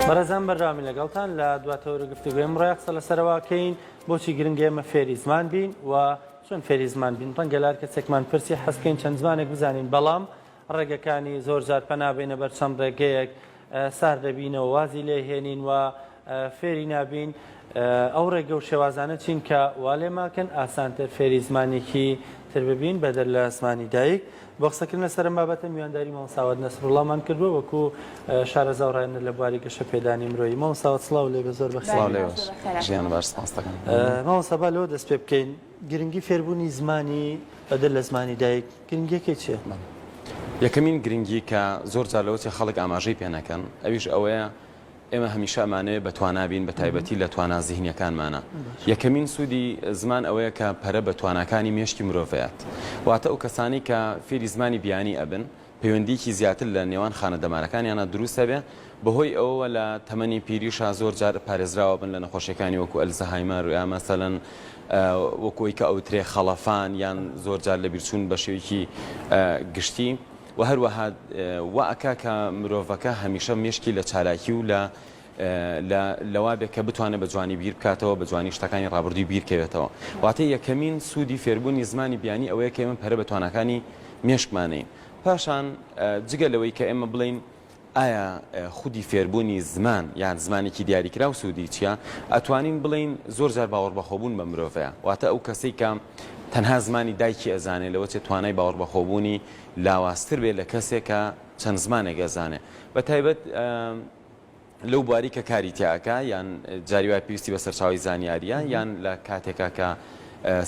بەڕێزان بەرداوامی لەگەڵتان لە دواتەوەرە گفتوگوێم ڕای قسە لەسەرواکەین بۆچی گرنگە ئێمە فێری زمان بین و چۆن فێری زمان بین ڕەنگەلار کەسێکمان پرسی حەزکەین چەند زمانێک بزانین بەڵام ڕێگەکانی زۆر زار پەنابێنە بەر چەند ڕێگەیەک سار دەبینەوە وازی لێهێنین و فێری نابین ئەو ڕێگە و شێوازانە چین کە وا لێ ماکن ئاسانتر فێری زمانێکی تر ببین بەدەر لە زمانی دایک. بۆ قسەکردن لەسەر ئەم بابەتە میوانداری مامۆستا ساوەت نەسروڵڵامان کردووە وەکو شارەزا و ڕاهێنەر لە بواری گەشەپێدانی مرۆیی. مامۆستا ساوەت سڵاو لێ بێ زۆر بەخێر سڵاو لێ بێ. ژیان بەخێر سپاستەکەم. مامۆستا با لەوە دەست پێ بکەین گرنگی فێربوونی زمانی بەدەر لە زمانی دایک گرنگییەکەی چییە؟ یەکەمین گرنگی کە زۆر جار لەوە چێ خەڵک ئاماژەی پێ نەکەن ئەویش ئەوەیە ئێمە هەمیشە ئەمانەوێت بە توانا بین بە تایبەتی لە توانا زیهنیەکانمانا. یەکەمین سوودی زمان ئەوەیە کە پەرە بە تواناکانی مێشکی مرۆڤ ئەیات. واتە ئەو کەسانەی کە فێری زمانی بیانی ئەبن پەیوەندییەکی زیاتر لە نێوان خانە دەمارەکانیانا دروست ئەبێ بە هۆی ئەوەوە لە تەمەنی پیریشا زۆر جار پارێزراوە بن لە نەخۆشیەکانی وەکو ئەلزەهایمەر یا مەسەلەن وەکو ئەوەی کە ئەوترێ خەڵەفان یان زۆر جار لەبیرچوون بە شێوەیەکی گشتی. وە هەروەها وا ئەکا کە مرۆڤەکە هەمیشە مێشکی لە چالاکی و لە لە لەوا بێ کە بتوانێت بە جوانی بیر بکاتەوە بە جوانی شتەکانی ڕابردووی بیرکەوێتەوە واتە یەکەمین سوودی فێربوونی زمانی بیانی ئەوەیە کە ئێمە پەرە بە تواناکانی مێشکمانین پاشان جگە لەوەی کە ئێمە بڵێین ئایا خودی فێربوونی زمان یان زمانێکی دیاریکراو سوودی چییە؟ ئەتوانین بڵێین زۆر جار باوەڕبەخۆبوون بە مرۆڤەیە، واتە ئەو کەسەی کە تەنها زمانی دایکی ئەزانێ لەوە چێ توانای باوەڕبەخۆبوونی لاوازتر بێ لە کەسێ کە چەند زمانێک ئەزانێ بە تایبەت لەو بواری کە کاری تیا ئەکا یان جاری وایە پێویستی بە سەرچاوەی زانیاریە یان لە کاتێکا کە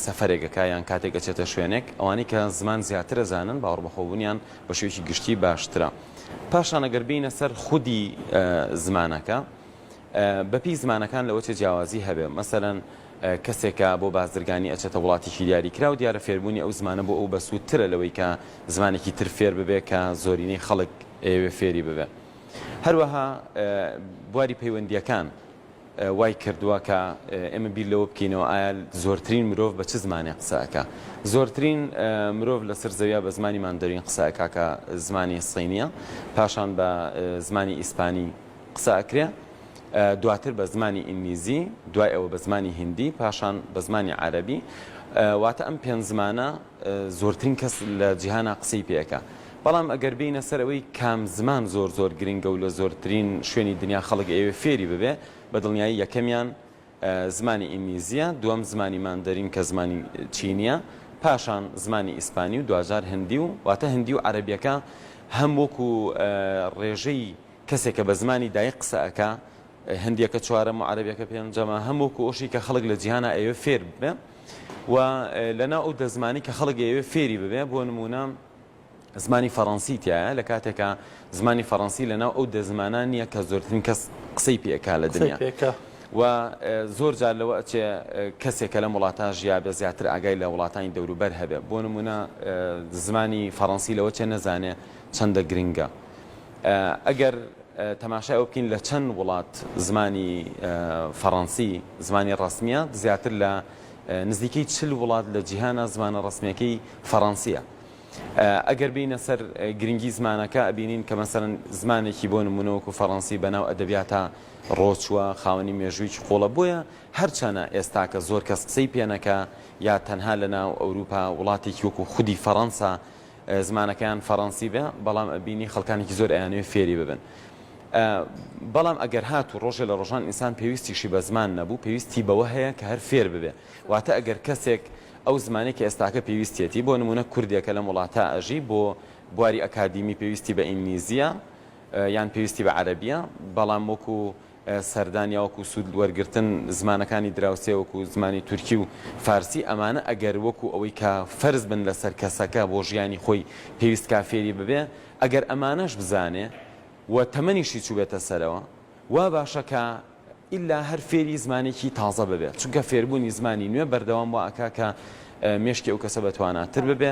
سەفرێک ئەکا یان کاتێک ئەچێتە شوێنێک ئەوانەی کە زمان زیاتر ئەزانن باوەڕبەخۆبوونیان بە شێوەیەکی گشتی باشترە. پاشان ئەگەر بینە سەر خودی زمانەکە بەپی زمانەکان لەوە چێ جیاوازی هەبێ مەسەەن کەسێکە بۆ بازرگانی ئەچێتە وڵاتیشی دیاری کرا و دیارە فێربوونی ئەو زمانە بۆ ئەو بەسوودترە لەوەی کە زمانێکی تر فێر ببێ کە زۆرینەی خەڵک ئێوێ فێری ببێ هەروەها بواری پەیوەندیەکان وای کردووە کە ئێمە بیر لەوە بکەینەوە ئایا زۆرترین مرۆڤ بە چ زمانێک قسە ئەکا؟ زۆرترین مرۆڤ لەسەر زەویا بە زمانی ماندەرین قسە ئەکا کە زمانی سینیە، پاشان بە زمانی ئیسپانی قسە ئەکرێ، دواتر بە زمانی ئینگلیزی، دوای ئەوە بە زمانی هیندی، پاشان بە زمانی عەرەبی، واتە ئەم پێنج زمانە، زۆرترین کەس لە جیهانا قسەی پێ ئەکا بەڵام ئەگەر بێینە سەر ئەوەی کام زمان زۆر زۆر گرنگە و لە زۆرترین شوێنی دنیا خەڵک ئەیەوێ فێری ببێ بە دڵنیایی یەکەمیان زمانی ئینگلیزیە دووەم زمانی ماندەرین کە زمانی چینیە پاشان زمانی ئیسپانی و دواجار هندی و واتە هندی و عەرەبیەکە هەم وەکو ڕێژەی کەسێکە بە زمانی دایک قسە ئەکا هندیەکە چوارەم و عەرەبیەکە پێنجەمە هەم وەکو ئەوشی کە خەڵک لە جیهانا ئەیەوێ فێر ببێ و لەناو ئەو دە زمانی کە خەڵک ئەیەوێ فێری ببێ بۆ نموونە زمانی فەڕەنسی تایە لە کاتێکا زمانی فەڕەنسی لەناو ئەو دە زمانان نییە کە زۆرترین کەس قسەی پێکا لە دنیا و زۆر جار لەوە ئەچێ کەسێک کە لەم وڵاتە ژیابێ زیاتر ئاگای لە وڵاتانی دەوروبەر هەبێ بۆ نمونە زمانی فەڕەنسی لەوە چێ نەزانێ چەندە گرنگە. ئەگەر تەماشای ئەوە بکەین لە چەند وڵات زمانی فەڕەنسی زمانی ڕەسمییە، زیاتر لە نزیکەی چل وڵات لە جیهانە زمانە ڕەسمیەکەی فەڕەنسییە. ئەگەر بینە سەر گرنگی زمانەکە ئەبینین کە مەسەرەن زمانێکی بۆ نمونەوەکو فەڕەنسی بەناو ئەدەبیاتە ڕۆچووە خاوەنی مێژوویکی قوڵە بۆیە هەرچەنە ئێستاکە زۆر کەس قسەی پێنەکە یا تەنها لە ناو ئەوروپا وڵاتێکی وەکو خودی فەڕەنسا زمانەکەیان فەرەنسی بێ بەڵام ئەبینی خەڵکانێکی زۆر ئەیانەوێ فێری ببن بەڵام ئەگەر هات و ڕۆژێ لە ڕۆژان ئینسان پێویستیشی بە زمان نەبوو پێویستی بەوە هەیە کە هەر فێر ببێ واتە ئەگەر کەسێک ئەو زمانی کە ئێستاکە پێویستێتی بۆ نمونە کوردێکە لەم وڵاتە ئەژی بۆ بواری ئەکادیمی پێویستی بە ئینگلیزیە یان پێویستی بە عەربیە بەڵام وەکو سەردان یا وەکو سوود وەرگرتن، زمانەکانی دراوسێ وەکو زمانی تورکی و فارسی، ئەمانە ئەگەر وەکو ئەوەی کە فەرز بن لەسەر کەسەکە بۆ ژیانی خۆی پێویست کا فێری ببێ، ئەگەر ئەمانەش بزانێ و تەمەنیشی چووبێتە سەرەوە، وا باشە کە ئیلا هەر فێری زمانێکی تازە ببێ، چونکە فێربوونی زمانی نوێ بەردەوام وا ئەکا کە مێشکی ئەو کەسە بەتواناتر ببێ.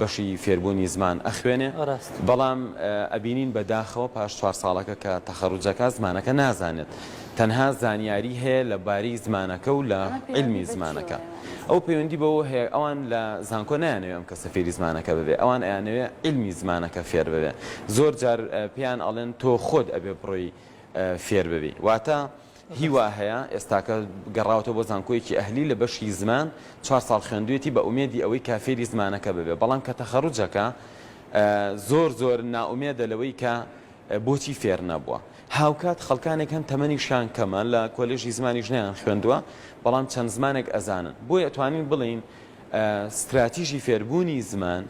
بەشی فێربوونی زمان ئەخوێنێ ڕاست. بەڵام ئەبینین بە داخەوە پاش چوار ساڵەکە کە تەخەڕوج ئەکا زمانەکە نازانێت تەنها زانیاری هەیە لە بارەی زمانەکە و لە ئەمە عیلمی پەیوەندی بە زمانەکە چییە؟ ئەو پەیوەندی بەوە هەیە ئەوان لە زانکۆ نایانەوێ ئەم کەسە فێری زمانەکە ببێ ئەوان ئەیانەوێ عیلمی زمانەکە فێر ببێ زۆر جار پێیان ئەڵێن تۆ خۆت ئەبێ بڕۆی فێر ببی واتە هی وا هەیە ئێستاکە گەڕاوەتەوە بۆ زانکۆیەکی ئەهلی لە بەشی زمان چوار ساڵ خوێندویەتی بە ئومێدی ئەوەی کا فێری زمانەکە ببێ بەڵام کە تەخەروجەکە زۆر زۆر نائومێدە لەوەی کە بۆچی فێر نەبووە هاوکات خەڵکانێک هەن تەمەنیشیان کەمە لە کۆلێژی زمانی ژنیان خوێندووە بەڵام چەند زمانێک ئەزانن بۆی ئەتوانین بڵین ستراتیژی فێربوونی زمان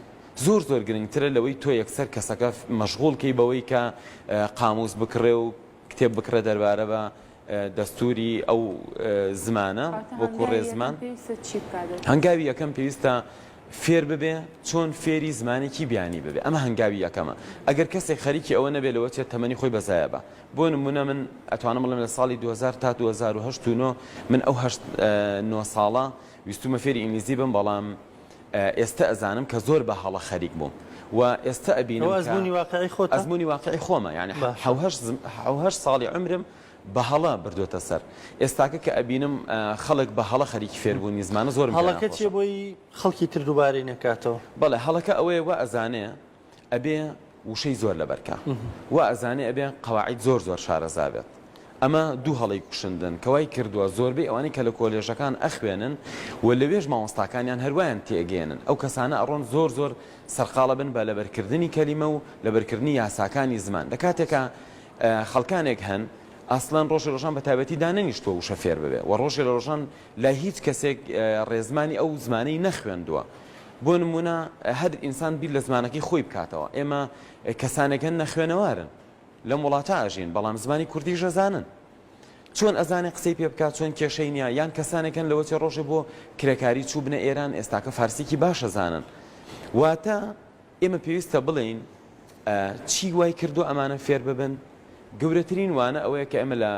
زۆر زۆر گرنگترە لەوەی تۆ یەکسەر کەسەکە مەشغول کەی بەوەی کە قاموس بکڕێ و کتێب بکڕێت دەربارە بە دەستووری ئەو زمانە وەکو ڕێزمان هەنگاوی یەکەم پێویستە فێر ببێ چۆن فێری زمانێکی بیانی ببێ ئەمە هەنگاوی یەکەمە ئەگەر کەسێک خەریکی ئەوە نەبێت لەوە چێت تەمەنی خۆی بەزایە بە بۆ نمونە من ئەتوانم بڵێم لە ساڵی 2000 تا 2009 من ئەو نۆ ساڵە ویستومە فێری ئینگلیزی بم بەڵام ئێستە ئەزانم کە زۆر بە هەڵە خەریک بووم و ئێستە ئەبینم کە ئەوە ئەزموونی واقعی خۆتە؟ ئەزموونی واقعی خۆمە یانی حەو باشە. هەشت زم- حەو هەشت ساڵی عومرم بە هەڵە بردووەتە سەر ئێستاکە کە ئەبینم ئا، خەڵک بە هەڵە خەریکی فێربوونی زمانە زۆرم پێ هەڵەکە ناخۆشە. چییە بۆی خەڵکی تر دووبارەی نەکاتەوە؟ بەڵێ هەڵەکە ئەوەیە وا ئەزانێ ئەبێ وشەی زۆر لەبەر کا وا ئەزانێ ئەبێ قەواعید زۆر زۆر شارەزا بێت ئەمە دوو هەڵی کوشندن کەوای کردووە زۆربەی ئەوانەی کە لە کۆلێژەکان ئەخوێنن و لەوێش مامۆستاکانیان هەروایان تێگەێنن ئەو کەسانە ئەڕۆن زۆر زۆر سەرقاڵە بن بە لەبەرکردنی کەلیمە و لەبەرکردنی یاساکانی زمان لە کاتێکە خەڵکانێک هەن ئاسلان ڕۆژی ڕۆژان بە تابەتی دانەنیشتوە وشە فێر ببێ و ڕۆژی لە ڕۆژان لای هیچ کەسێک ڕێزمانی ئەو زمانەی نەخوێندووە. بۆ نموونە هەر ئینسان بیر لە زمانەکەی خۆی بکاتەوە. ئێمە کەسانێک هەن نەخوێنەوارن. لەم وڵاتە ئەژین، بەڵام زمانی کوردیش ئەزانن. چۆن ئەزانێ قسەی پێ بکات، چۆن کێشەی نییە. یان کەسانێک هەن لەوەتێ ڕۆژێ بۆ کرێکاری چووبنە ئێران، ئێستاکە فارسیی باش ئەزانن. واتە. ئێمە پێویستە بڵێین چی وای کردووە ئەمانە فێر ببن، گەورەترین وانە ئەوەیە کە ئێمە لە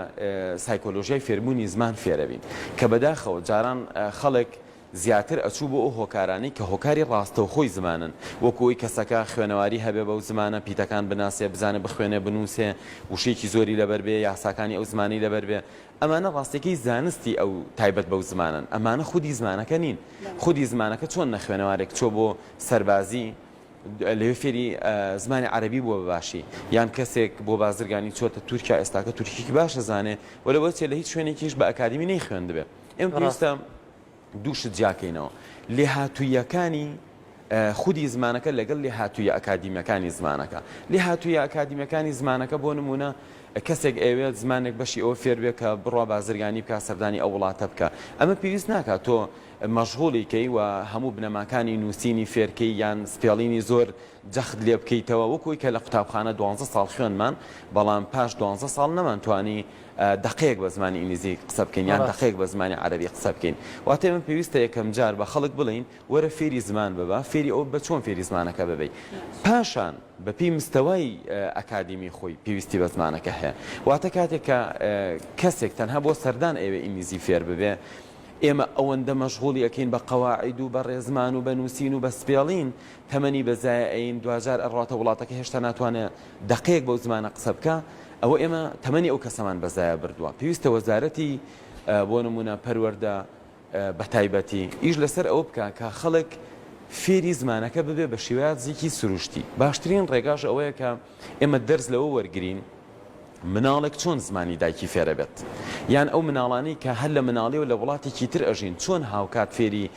سایکۆلۆژیای فێربوونی زمان فێرەبین کە بەداخەوە جاران خەڵک زیاتر ئەچوو بۆ ئەو هۆکارانەی کە هۆکاری ڕاستەوخۆی زمانن وەکوی کەسەکە خوێنەواری هەبێ بەو زمانە پیتەکان بناسێ بزانێ بخوێنێ بنووسێ وشەیەکی زۆری لەبەر بێ یاساکانی ئەو زمانی لەبەر بێ ئەمانە ڕاستیەکەی زانستی ئەو تایبەت بەو زمانەن، ئەمانە خودی زمانەکە نین، خودی زمانەکە چۆن نەخوێنەوارێک چووە بۆ سەربازی لەوێ فێری زمانی عەرەبی بووە بەباشی یان کەسێک بۆ بازرگانی چۆتە تورکیا ئێستاکە تورکیکی باشە زانێ وە لەوەچێ لە هیچ شوێنێکیش بە ئەکادیمی نەی خوێندبێ ئێمە پێویستە دوو شت جیاکەینەوە، لێهاتووییەکانی خودی زمانەکە لەگەڵ لێهاتوویە ئەکادیمیەکانی زمانەکە. لێهاتوویە ئەکادیمیەکانی زمانەکە بۆ نمونە کەسێک ئەوێت زمانێک بەشی ئەوە فێربێ کە بڕوا بازرگانی بکە سەردانی ئەو وڵاتە بکە ئەمە پێویست ناکات تۆ مەژغوڵیکەی و هەموو بنەماکانی نووسینی فێرکەی یان سپێڵینی زۆر جەخت لێ بکەیتەوە وەکوی کە لە قوتابخانە دوانزە ساڵ خوێندمان بەڵام پاش دوانزە ساڵ نەمان توانی دەقەیەک بە زمانی ئینگلیزی قسە بکەین یان دەقەیەک بە زمانی عەرەبی قسە بکەین واتە من پێویستە یەکەم جار بە خەڵک بڵین وەرە فێری زمان ببە فێری ئەو بە چۆن فێری زمانەکە ببی پاشان بەپی مستەوای ئەکادیمی خۆی پێویستی بە زمانەکە هەیە واتە کاتێک کە کەسێک تەنها بۆ سەردان ئەوێ ئینگلیزی فێر ببێ ئێمە ئەوەندە مەشغوڵی ئەەکەین بە قەواعد و بە ڕێزمان و بە نووسین و بە سپێڵین تەمەنی بەزایە ئەیین دواجار ئەڕواتە وڵاتەکە هێشتا ناتوانێ دەقەیەک بەو زمانە قسە بکا ئەوە ئێمە تەمەنی ئەو کەسەمان بەزایە بردوە پێویستە وەزارەتی بۆ نمونە پەروەردە بەتایبەتی ئیش لەسەر ئەوە بکا کە خەڵک فێری زمانەکە ببێ بە شێوازێکی سروشتی باشترین ڕێگاش ئەوەیە کە ئێمە دەرز لەوە وەرگین مناڵێک چۆن زمانی دایکی فێرەبێت؟ یان ئەو مناڵانەی کە هەر لە مناڵیەوە لە وڵاتێکی تر ئەژین چۆن هاوکات فێری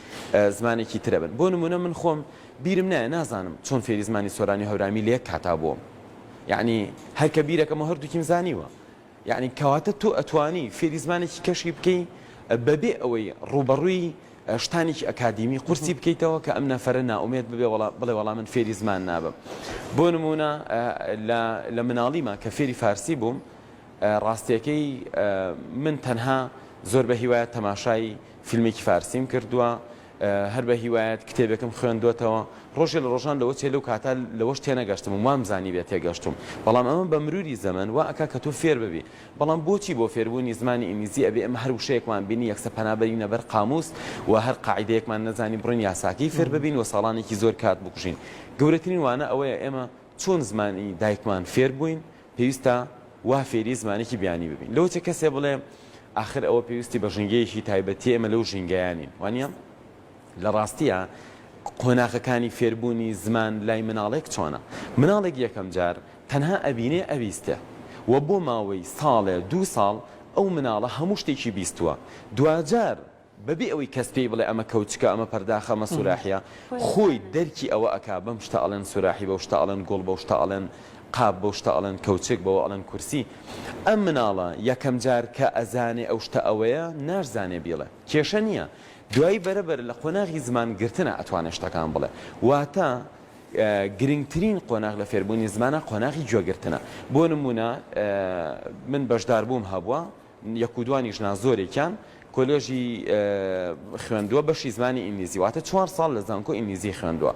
زمانێکی تر ئەبن؟ بۆ نمونە من خۆم بیرم نایە نازانم چۆن فێری زمانی سۆرانی و هەورامی لە یەک کاتا بووم یعنی هەر کە بیرەکەمەوە هەردووکیم زانیوە یعنی کەواتە تۆ ئەتوانی فێری زمانێکی کەشی بکەی بەبێ ئەوەی ڕووبەڕووی شتانێکی ئەکادیمی قورسی بکەیتەوە کە ئەم نەفەرە نائومێد ببێ و بڵێ وەڵا من فێری زمان نابم بۆ نموونە لە مناڵیما کە فێری فارسی بووم ڕاستیەکەی من تەنها زۆر بە هیوایەت تەماشای فیلمێکی فارسیم کردووە هەر بە هیوایەت کتێبێکم خوێندوەتەوە ڕۆژێ لە ڕۆژان لەوە چێ لەو کاتا لەوەش تێنەگەشتم وام زانی بێت تێگەشتم بەڵام ئەمە بە مروری زەمن و ئەک کە تۆ فێر ببی بەڵام بۆچی بۆ فێربوونی زمانی ئینگلیزی ئەبێ ئێمە هەر وشەیەکمان بینی یەکسەر پەنا بەرینە بەر قامووس و هەر قاعیدەیەکمان نەزانی بڕۆین یاساکەی فێر ببین و ساڵانێکی زۆر کات بکوژین؟ گەورەترین وانە ئەوەیە ئێمە چۆن زمانی دایکمان فێر بووین پێویستە وا فێری زمانێکی بیانی ببین. لەوە چێ کەسێ بڵێ ئاخر ئەوە پێویستی بە ژینگەیەکی تایبەتیە ئێمە لەو ژینگەیە نین. وانیە؟ لە ڕاستییا قۆناغەکانی فێربوونی زمان لای مناڵێک چۆنە؟ مناڵێک یەکەم جار تەنها ئەبینێ ئەبیستێ و بۆ ماوەی ساڵێ دوو ساڵ ئەو مناڵە هەموو شتێکی بیستووە دواجار بە بێ ئەوەی کەس پێی بڵێ ئەمە کەوچکە ئەمە پەرداخە ئەمە سوراحیە خۆی دەرکی ئەوە ئەکا بەم شتە ئەڵێن سوراحی بەو شتە ئەڵێن گوڵ بەو شتە ئەڵێن قاپ بەو شتە ئەڵێن کەوچک بەوە ئەڵێن کورسی ئەم مناڵە یەکەم جار کە ئەزانێ ئەو شتە ئەوەیە ناشزانێ بیڵێ کێشە نییە دوایی بەرە بەرە لە قۆناغی زمان گرتنا ئەتوانێ شتەکان بڵێ واتە گرنگترین قۆناغ لە فێربوونی زمانا قۆناغی گوێ گرتنە بۆ نموونە من بەشدار بووم هەبووە یەک و دوانیش نا زۆرێکیان کۆلێژی خوێندووە بەشی زمانی ئینگلیزی واتە چوار ساڵ لە زانکۆ ئینگلیزی خوێندووە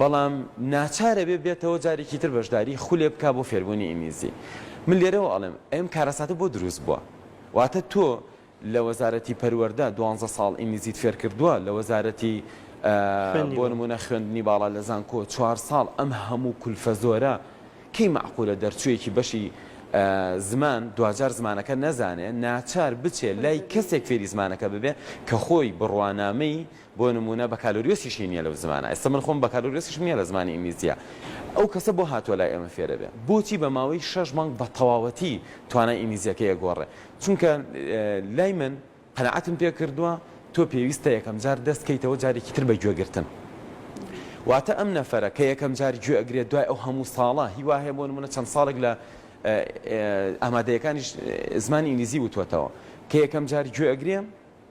بەڵام ناچارە بێ بێتەوە جارێکی تر بەشداری خولێ بک بۆ فێربوونی ئینگلیزی من لێرەوە ئەڵێم ئەم کارەساتە بۆ دروست بووە واتە تۆ لە وەزارەتی پەروەردە دوانزە ساڵ ئینگلیزیت فێرکردووە لە وەزارەتی بۆ نموونە خوێندنی باڵا لە زانکۆ چوار ساڵ ئەم هەموو کولفە زۆرە کەی مەعقولە دەرچوویەکی بەشی زمان دواجار زمانەکە نەزانێ ناچار بچێ لای کەسێک فێری زمانەکە ببێ کە خۆی بڕوانامەی بۆ نموونە بەکالۆریۆسیشی نییە لەو زمانە ئێستا من خۆم بەکالۆریۆسیشم نییە لە زمانی ئینگلیزیە ئەو کەسە بۆ هاتووە لای ئێمە فێرەبێ بۆچی بە ماوەی شەش مانگ بە تەواوەتی توانای ئینگلیزیەکەی ئەگۆڕێ چونکە لای من قەناعەتم پێ کردووە تۆ پێویستە یەکەم جار دەست کەیتەوە جارێکی تر بە گوێ گرتن واتە ئەم نەفەرە کە یەکەم جار گوێ ئەگرێت دوای ئەو هەموو ساڵە هیوا هەیە بۆ نمونە چەند ساڵێک لە ئامادەیەکانیش زمانی ئینگلیزی وتوەتەوە کە یەکەم جار گوێ ئەگرێ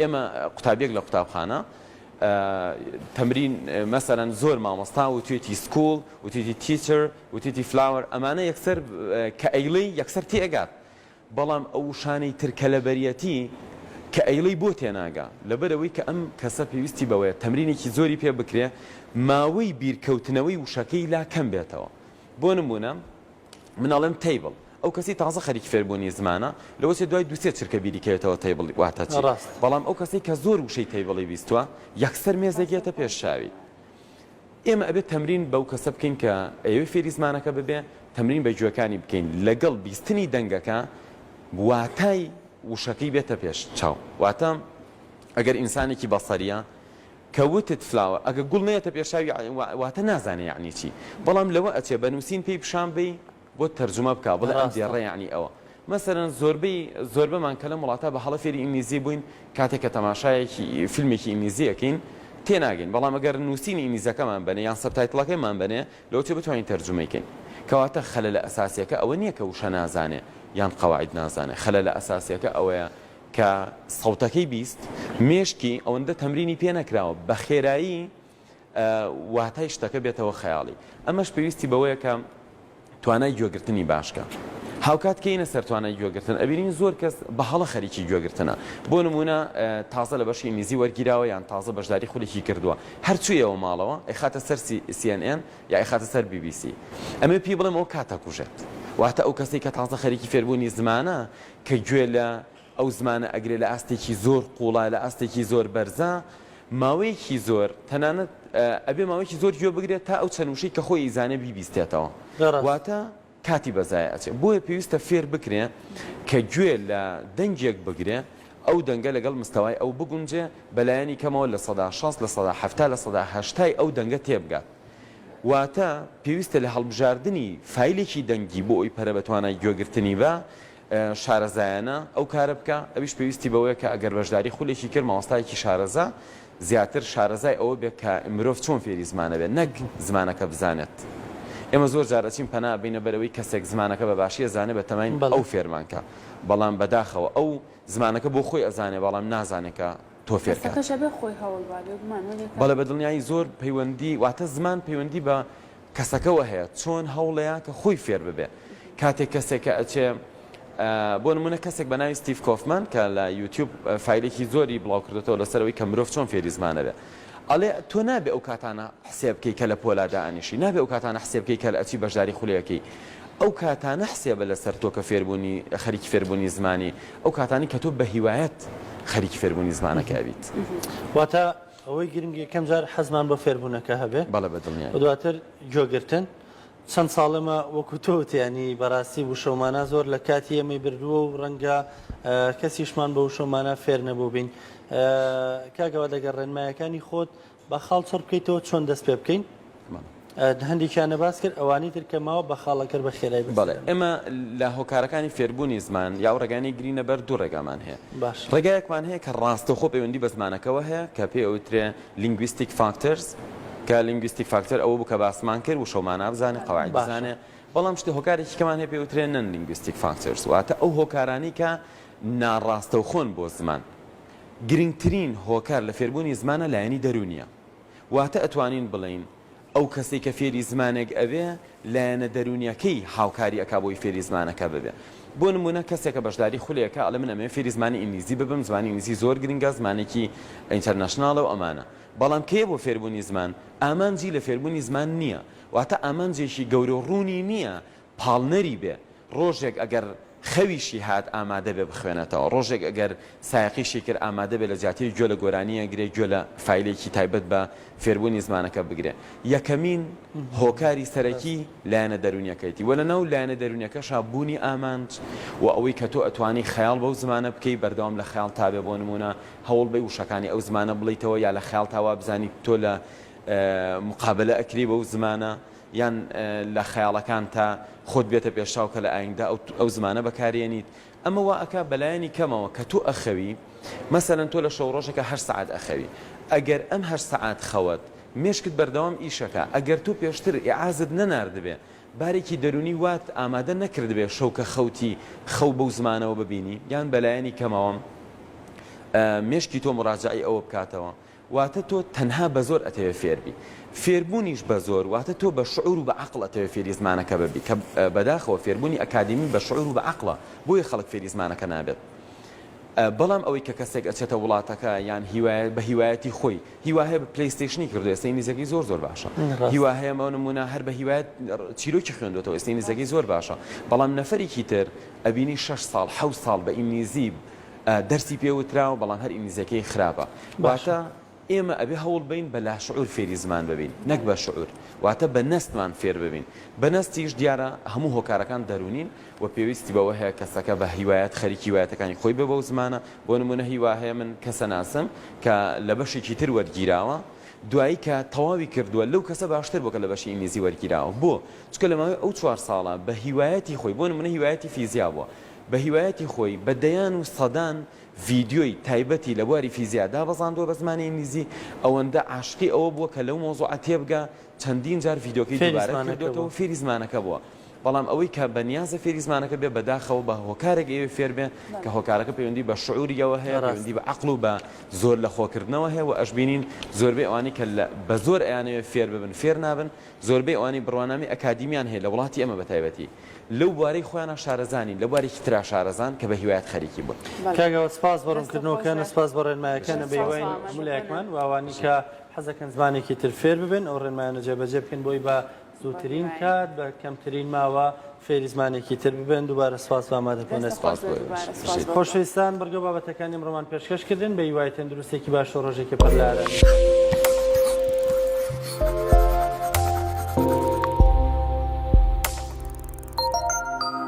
ئێمە قوتابیەک لە قوتابخانە تەمرین مەسەرەن زۆر مامۆستا و توێتی سکوڵ و توێتی تیچر و توێتی فلاوەر ئەمانە یەکسەر کە ئەیڵی یەکسەر تێگات بەڵام ئەو شانەی ترکە لە بەریەتی کە ئەیڵی بۆ تێناگا لەبەرەوەی کە ئەم کەسە پێویستی بەوەیە تەمرینێکی زۆری پێ بکرێ ماوەی بیرکەوتنەوەی وشەکەی لا کەم بێتەوە بۆ نمونە من ئەڵێم تەیبڵ ئەو کەسەی تازە خەریکی فێربوونی زمانە، لەوەچێت دوای دوو سێ چرکە بیری کەوێتەوە تەیبڵ واتە چی. ڕاستە. بەڵام ئەو کەسەی کە زۆر وشەی تەیبڵی بیستووە، یەکسەر مێزێک یەتە پێش چاوی. ئێمە ئەبێت تەمرین بەو کەسە بکەین کە ئەیەوێت فێری زمانەکە ببێ، تەمرین بە گوێکانی بکەین، لەگەڵ بیستنی دەنگەکە واتای وشەکەی بێتە پێش چاو. واتە ئەگەر ئینسانێکی بەسەرییە، کە وتت فلاوە ئەگە گوڵ نەیەتە پێشاوی واتە نازانێ یەعنی چی بەڵام لەوە ئەچێ بە نوسین پێی پیشان بەی بۆت تەرجومە بکا بڵێ ئەم راستە. دێڕە یەعنی ئەوە مەسەلەن زۆربەی زۆربەمان کە لەم وڵاتە بە هەڵە فێری ئینگلیزی بووین کاتێ کە تەماشایەکی فیلمێکی ئینگلیزی ئەکەین تێناگەین بەڵام ئەگەر نوسینی ئینگلیزەکەمان بەنێ یان سەبتایتڵەکەیمان بەنێ لەوەچێ بتوانین تەرجومەی کەین کەواتە خەلەلە ئەساسیەکە ئەوە نیە کە وشە نازانێ یان قەواعید نازانێ خەلەلە ئەساسیەکە ئەوەیە کە سەوتەکەی بیست مێشکی ئەوەندە تەمرینی پێ نەکراوە بە خێرایی واتای شتەکە بێتەوە خەیاڵی ئەمەش پێویستی بەوەیە کە توانای گوێگرتنی باشکە هاوکات کەینە سەر توانای گوێگرتن ئەبینین زۆر کەس بە هەڵە خەریکی گوێگرتنە بۆ نمونە تازە لە بەشی ئینگلیزی وەرگیراوە یان تازە بەشداری خولێکی کردووە هەرچوویەوە ماڵەوە ئەخاتە سەر CNN یا ئەخاتە سەر BBC ئەمە پێی بڵێم ئەو کاتە کوژێت واتە ئەو کەسی کە تازە خەریکی فێربوونی زمانە کە گوێ لە ئەو زمانە ئەگرێ لە ئاستێکی زۆر قوڵا لە ئاستێکی زۆر بەرزە ماوەیەکی زۆر تەنانەت ئەبێ ماوەیەکی زۆر گوێ بگرێت تا ئەو چەند وشەی کە خۆی ئیزانێ بیبیستێتەوە واتە کاتی بەزای ئەچێ بۆیە پێویستە فێر بکرێ کە گوێ لە دەنگێک بگرێ ئەو دەنگە لەگەڵ مستەوای ئەو بگونجێ بەلایەنی کەمەوە لە سەدا شەست لە سەدا حەفتا لە سەدا هەشتای ئەو دەنگە تێبگات واتە پێویستە لە هەڵبژاردنی فایلێکی دەنگی بۆ ئەوی پەرە بە توانای گوێگرتنی بە شارەزایانە ئەو کارە بکە ئەویش پێویستی بەوەیە کە ئەگەر بەشداری خولێکی کرد مامۆستایەکی شارەزا زیاتر شارەزای ئەوە بێت کە مرۆڤ چۆن فێری زمانە بێت نەک زمانەکە بزانێت ئێمە زۆر جارەچین پەنا بینە بەرەوەی کەسێک زمانەکە بە باشیە زانێ بە تەماین ئەو فێرمانکە بەڵام بەداخەوە ئەو زمانەکە بۆ خۆی ئەزانێ بەڵام نازانێکە تۆ فێر کات. هەستەکەش ئەبێ خۆی هەوڵ با بێ گومان وەلێ کار. بەڵێ بە دڵنیایی زۆر پەیوەندی واتە زمان پەیوەندی بە کەسەکەوە هەیە چۆن هەوڵێا کە خۆی فێر ببێ کاتێک کەسێک کە ئەچێ بۆ نمونە کەسێک بە ناوی ستیف کۆفمان کە لە یوتیوب فیلێکی زۆری بڵاو کردێتەوە لەسەرەوەی کە مرۆڤ چۆن فێری زمانەبێ ئەڵێ تۆ نابێ ئەو کاتانە حسێبکەی کە لە پۆلادا ئەنیشی نابێ ئەو کاتانە حسێبکەی کە لە ئەچی بەشداری خولەکەی ئەو کاتانە حسێبە لەسەر تۆ کە فێربوونی خەریکی فێربوونی زمانی ئەو کاتانەی کە تۆ بە هیوایت خەریکی فێربوونی زمانەکە ئەبیت. واتە ئەوەی گرنگە یەکەم جار حەزمان بۆ فێربوونەکە هەبێ بەڵێ بە دڵنیایی. و دواتر گۆێگرتن. چەند ساڵە مە وەکوو تۆ وت یانی بەڕاستی وشە و مانا زۆر لە کاتی ئێمەی بردووە و ڕەنگە کەسیشمان بە وشە و مانا فێر نەبووبین. کاک ئەوە لەگەڵ ڕێنماییەکانی خۆت با خاڵ چڕ بکەیتەوە چۆن دەست پێ بکەین هەندێکیان نەباس کرد ئەوانی تر کە ماوە بە خاڵەکەر بە خێرای بێت. بەڵێ ئێمە لە هۆکارەکانی فێربوونی زمان یا و ڕێگانەی گرینە بەر دوو ڕێگامان هەیە باش ڕێگایەکمان هەیە کە ڕاستەخۆ پەیوەندی بە زمانەکەەوە هەیە کە پێ ئەوترێ لینگویستیک فاکتەرز کە لینگویستیک فاکتەر ئەوە بوو کە باسمان کرد و شەومانە بزانێت قواعد باشە. بزانێ بەڵام شتی هۆکارێکی کەمان هەیە پێ وترێ نەن لینگویستیک فاکتەرز واتە ئەو هۆکارانی کە ناڕاستەوخۆن بۆ زمان گرنگترین هۆکار لە فێربوونی زمانە لایەنی دەروونیە واتە ئەتوانین بڵێین ئەو کەسەی کە فێری زمانێک ئەبێ لایەنە دەروونیەکەی هاوکاری ئەکا بۆی فێری زمانەکە ببێ بۆ نموونە کەسێکە بەشداری خولێ ئەکا ئەڵێ من ئەمەوێ فێری زمانی ئینگلیزی ببم زمانی ئینگلیزی زۆر گرنگە زمانێکی ئینتەرنەشناڵە و ئەمانە بەڵام کێیە بۆ فێربوونی زمان ئامانجی لە فێربوونی زمان نییە واتە ئامانجێکی گەورە و ڕوونی نییە پاڵنەری بێ، ڕۆژێک ئەگەر خەویشی هات ئامادە بێ بخوێنێتەوە، ڕۆژێک ئەگەر سایەقیشی کرد ئامادە بێ لە جیاتی گوێ لە گۆرانییەک گرێ، گوێ لە فایلێکی تایبەت بە فێربوونی زمانەکە بگرێ. یەکەمین هۆکاری سەرەکی لایەنە دەروونییەکەیەتی و لەناو لایەنە دەروونییەکەشا بوونی ئامانج و ئەوەی کە تۆ ئەتوانی خەیاڵ بەو زمانە بکەی، بەردەوام لە خەیاڵ تا بێ بۆ نموونە هەوڵ بەی وشەکانی ئەو زمانە بڵێیتەوە یا لە خەیاڵتا وا بزانی تۆ لە مقابەلە ئەکرێی بەو زمانە. یان لە خەیاڵەکانتا خۆت بێتە پێشچاو کە لە ئایندە ئەو زمانە بەکاریێنیت، ئەمە وا ئەکا بە لایەنی کەمەوە کە تۆ ئەخەوی، مەسەلەن تۆ لە شەو ڕۆژەکا هەشت سەعات ئەخەوی، ئەگەر ئەم هەشت سەعات خەوەت، مێشکت بەردەوام ئیش ئەکا، ئەگەر تۆ پێشتر ئیعازت نەناردبێ، بارێکی دەروونی وات ئامادە نەکردبێ شەو کە خەوتی خەو بەو زمانەوە ببینی، یان بە لایەنی کەمەوە مێشکی تۆ موراجەعەی ئەوە بکاتەوە، واتە تۆ تەنها بە زۆر ئەتەوێ فێر بی. فێربوونیش بە زۆر واتە تۆ بە شعور و بە عەقڵ ئەتەوێ فێری زمانەکە ببی کە بەداخەوە فێربوونی ئەکادیمی بە شعور و بە عەقڵە بۆیە خەڵک فێری زمانەکە نابێت. بەڵام ئەوەی کە کەسێک ئەچێتە وڵاتەکە یان هیوایە بە هیوایەتی خۆی هیوا هەیە بە پلەیستەیشنی کردووە ئێستە ئینگلیزیەکەی زۆر زۆر باشە ڕاست هیوا هەیە بۆ نموونە هەر بە هیوایەت چیرۆکی خوێندوەتەوە ئێستە ئینگلیزیەکەی زۆر باشە بەڵام نەفەرێکی تر ئەبینی شەش ساڵ حەوت ساڵ بە ئینگلیزی دەرسی پێ وتراوە بەڵام هەر ئینگلیزیەکەی خراپە واتە ئێمە ئەبێ هەوڵ بین بە لاشعور فێری زمان ببین نەک بە شعور واتە بە نەستمان فێر ببین بە نەستیش دیارە هەموو هۆکارەکان دەرونین و پێویستی بەوە هەیە کەسەکە بە هیوایەت خەریکی وایەتەکانی خۆی بێ بەو زمانە بۆ نمونە هیوا هەیە من کەسە ناسم کە لە بەشێکی تر وەرگیراوە دوایی کە تەواوی کردووە لەو کەسە باشتر بۆکە لە بەشی ئینگلیزی وەرگیراوە بۆ چکە لە ماوەی ئەو چوار ساڵە بە هیوایەتی خۆی بۆ نمونە هیوایەتی فیزیا بووە بە هیوایەتی خۆی بە دەیان و سەدان ڤیدیۆی تایبەتی لە بواری فیزیا دابەزاندووە بە زمانی ئینگلیزی، ئەوەندە عاشقی ئەوە بووە کە لەو مەوزوعە تێبگا چەندین جار ڤیدیۆکەی دووبارە کردۆتەوە فێری زمانەکە بووە، بەڵام ئەوەی کە بە نیازە فێری زمانەکە بێ بەداخەوە بە هۆکارێک ئەیەوێ فێر بێ کە هۆکارەکە پەیوەندی بە شعوریەوە هەیە پەیوەندی بە عەقڵ و بە زۆر لە خۆکردنەوە هەیە و ئەشبینین زۆربەی ئەوانەی کە بە زۆر ئەیانەوێ فێر ببن فێر نابن زۆربەی ئەوانەی بڕوانامەی ئەکادیمیان هەیە لە وڵاتی ئێمە بە تایبەتی لەو بوارەی خۆیانا شارەزا نین، لە بوارێکی ترا شارەزان کە بە هیوایت خەریکی بوون. بەڵێ. کاک ئاوات سپاس بۆ دەستت خۆش ڕوونکردنەوەکەن و بێ. سپاس بۆ ڕێنمایەکان، بژی بە ساغ هیوای بن. هەموو لایەکمان و ئەوانەی کە حەز دەکەن زمانێکی تر فێر ببن ئەو ڕێنمایانە جێبەجێ بکەن بۆی بە زووترین کات بە کەمترین ماوە فێری زمانێکی تر ببن دووبارە سپاس بۆ ئامادەبوونت. سپاس بۆ ئێوەش. بژیت. خۆشەویستان بڕگە و بابەتەکانی ئەمڕۆمان پێشکەش کردن بە هیوای تەندروستێکی باش و ڕۆژێکی پڕ لە ئارامی.